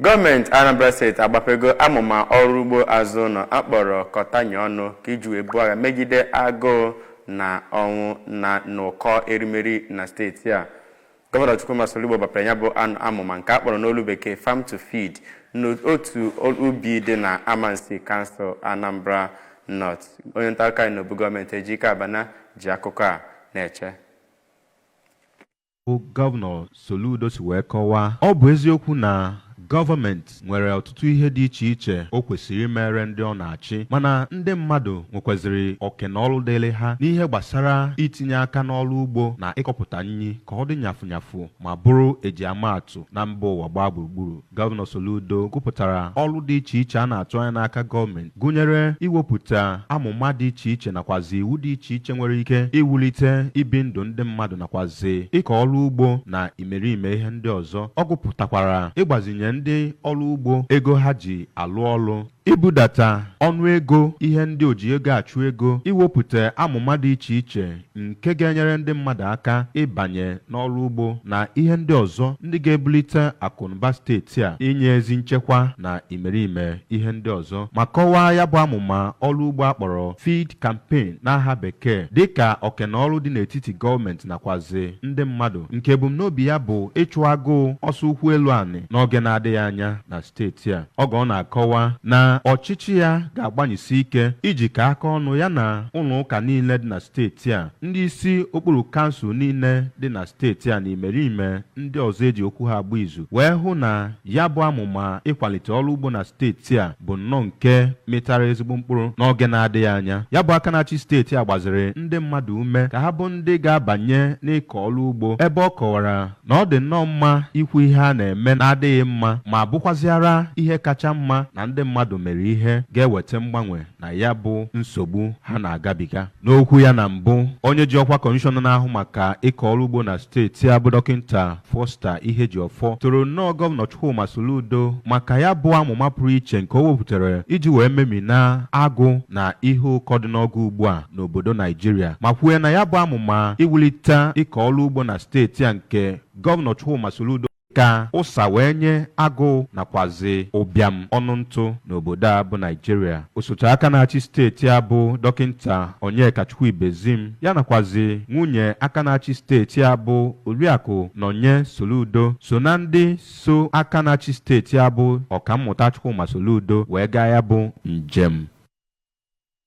Gọọmenti Anambra steeti agbapego amụma ọrụ ugbo azụ ụlọ a kpọrọ kọtanye ọnụ ka iji wee buo agha megide agụụ na ọnwụ na n'ụkọ erimeri na steeti a. Gọvanọ Chukwuma Soludo gbapere ya bụ amụma nke a kpọrọ n'olu bekee Farm to Feed n'otu ubi dị na Amansea kansụl Anambra North. Onye nta akụkọ anyị n'obu gọọmenti Ejike Abana ji akụkọ a na-eche. bụ Gọvanọ Soludo si wee kọwaa ọ bụ eziokwu na gọọmenti nwere ọtụtụ ihe dị iche iche o kwesịrị imere ndị ọ na-achị mana ndị mmadụ nwekwaziri oke na ọrụ dịịrị ha n'ihe gbasara itinye aka n'ọrụ ugbo na ịkọpụta nri ka ọ dị nyafụnyafụ ma bụrụ e ji ama atụ na mba ụwa gbaa gburugburu Gọvanọ Soludo gụpụtara ọrụ dị iche iche a na-atụ anya n'aka gọọmenti gụnyere iwepụta amụma dị iche iche nakwazi iwu dị iche iche nwere ike iwulite ibi ndụ ndị mmadụ nakwazi ịkọ ọrụ ugbo na imerime ihe ndị ọzọ. Ọ gụpụtakwara ịgbazinye ndị ọrụ ugbo ego ha ji alụ ọlụ. Ibudata ọnụ ego ihe ndị oji ego achụ ego, iwepụta amụma dị iche iche nke ga-enyere ndị mmadụ aka ịbanye n'ọrụ ugbo na ihe ndị ọzọ ndị ga-ebulite akụnụba steeti a, inye ezi nchekwa na imerime ihe ndị ọzọ. Ma kọwaa ya bụ amụma ọrụ ugbo a kpọrọ Feed Campaign n'aha bekee dịka oke na ọrụ dị n'etiti gọọmenti nakwazi ndị mmadụ nke ebumnobi ya bụ ịchụ agụụ ọsọ ụkwụ elu anị n'oge na-adịghị anya na steeti a oge ọ na-akọwa na ọchịchị ya ga-agbanyesi ike ijikọ aka ọnụ ya na ụlọ ụka niile dị na steeti a ndị isi okpuru kansụl niile dị na steeti a na imerime ndị ọzọ e ji okwu ha agba izu wee hụ na ya bụ amụma ịkwalite ọrụ ugbo na steeti a bụ nnọọ nke mịtara ezigbo mkpụrụ n'oge na-adịghị anya ya bụ aka na-achị steeti a gbaziri ndị mmadụ ume ka ha bụ ndị ga-abanye n'ịkọ ọrụ ugbo ebe ọ kọwara na ọ dị nnọọ mma ikwu ihe a na-eme na-adịghị mma ma bụkwazịara ihe kacha mma na ndị mmadụ mere ihe ga-eweta mgbanwe na ya bụ nsogbu ha na-agabiga n'okwu ya na mbụ onye ji ọkwa kọmishọna na-ahụ maka ịkọ ọrụ ugbo na steeti a bụ dọkịnta Foster Ihejiọfọ toro nnọọ gọvanọ Chukwuma Soludo maka ya bụ amụma pụrụ iche nke o wepụtara iji wee memina agụụ na ihe ụkọ dị n'oge ugbu a n'obodo Naijiria ma kwue na ya bụ amụma iwulite ịkọ ọrụ ugbo na steeti a nke Gọvanọ Chukwuma Soludo ka ụsa wee nye agụụ nakwazi ụbịam ọnụ ntụ n'obodo a bụ Naijiria osote aka na-achị steeti a bụ dọkịnta Onyekachukwu Ibezim ya nakwazi nwunye aka na-achị steeti a bụ Oriakụ Nonye Soludo so na ndị so aka na-achị steeti a bụ Ọkammụta Chukwuma Soludo wee gaa ya bụ njem